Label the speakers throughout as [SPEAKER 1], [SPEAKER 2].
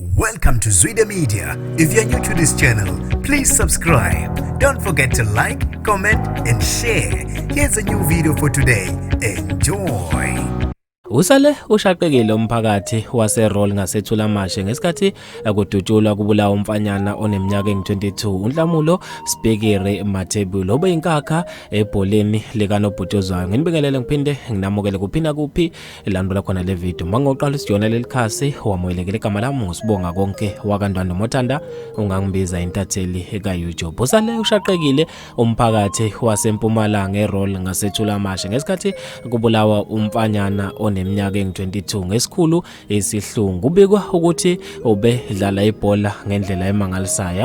[SPEAKER 1] Welcome to Zwide Media. If you're new to this channel, please subscribe. Don't forget to like, comment and share. Here's a new video for today. Enjoy.
[SPEAKER 2] Usale ushaqekile umphakathi waseRoll ngaseThulamashe ngesikhathi kudutshulwa kubulawa umfanyana oneminyaka engu-22 uNhlamulo Spikiri Mathebulo obeyinkakha ebholeni likanobhutshuzwayo. Nginibekelele ngiphinde nginamukele kuphina kuphi ilandula khona le video mangoqala isijona leli khasi wamoyelekele igama lami ngusibonga konke wakandwanda mothanda ungangibiza intatheli eka-youtube usale ushaqekile umphakathi wasempumalanga erol ngasetshulamashe ngesikhathi kubulawa umfanyana oneminyaka engu-22 ngesikhulu isihlungu kubikwa ukuthi ubedlala ibhola ngendlela emangalisayo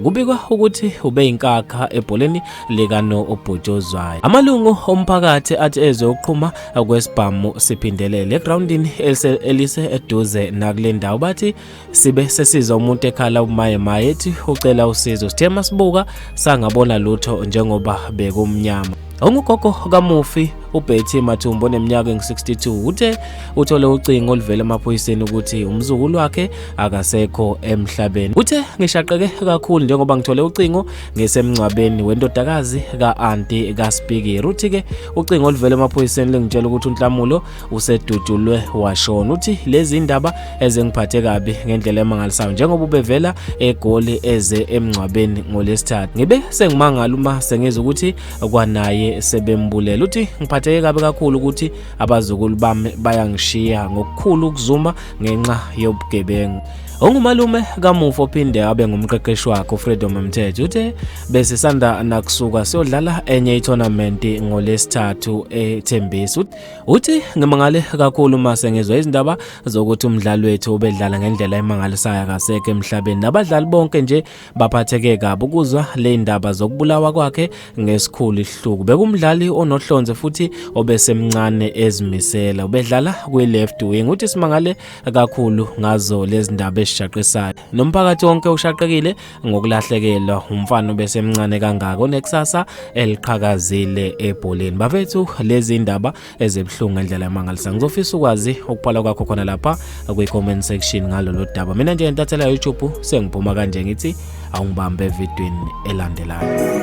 [SPEAKER 2] kubikwa ukuthi ubeyinkakha ebholeni likano obhutshozwayo amalungu omphakathi athi ezwe uqhuma kwesibhamu siphindelele egroundini elise eduze nakule ndawo bathi sibe sesiza umuntu ekhala umaye maye ethi ucela usizo sithe masibuka sangabona lutho njengoba bekumnyama Ongugogo kamufi uBetty Mathumbo oneminyaka engu-62 uthe uthole ucingo oluvela emaphoyiseni ukuthi umzukulu wakhe akasekho emhlabeni. Uthe ngishaqeke kakhulu njengoba ngithole ucingo ngisemngcwabeni wendodakazi ka-anti kaSpikiri. Uthi-ke ucingo oluvela emaphoyiseni lingitshela ukuthi uNhlamulo usedutshulwe washona uthi lezi ndaba ezengiphathe kabi ngendlela emangalisayo njengoba ubevela egoli eze emngcwabeni ngolesithathu ngibe sengimangala uma sengizwa ukuthi kwanaye sebembulela uthi ngiphatheke kabi kakhulu ukuthi abazukulu bami bayangishiya ngokukhulu ukuzuma ngenxa yobugebengu ongumalume kamufi ophinde abe ngumqeqeshi wakhe ufreedom mthetho uthe besisanda nakusuka siyodlala enye itournament ngolesithathu ethembisa Uthi ngimangale kakhulu uma sengizwa izindaba zokuthi umdlali wethu ubedlala ngendlela emangalisayo akaseke emhlabeni nabadlali bonke nje baphatheke kabi ukuzwa le ndaba zokubulawa kwakhe ngesikhulu ihluku bekumdlali onohlonze futhi obesemncane ezimisela ubedlala kwi-left wing uthi simangale kakhulu ngazo lezi ndaba ezishaqisayo nomphakathi wonke ushaqekile ngokulahlekelwa umfana obesemncane kangaka onekusasa eliqhakazile ebholeni bafethu lezi ndaba ezibuhlungu ngendlela yamangalisa ngizofisa ukwazi ukuphala kwakho khona lapha kwi-comment section ngalolu daba mina nje ngentathela youtube sengiphuma kanje ngithi awungibambe evidweni elandelayo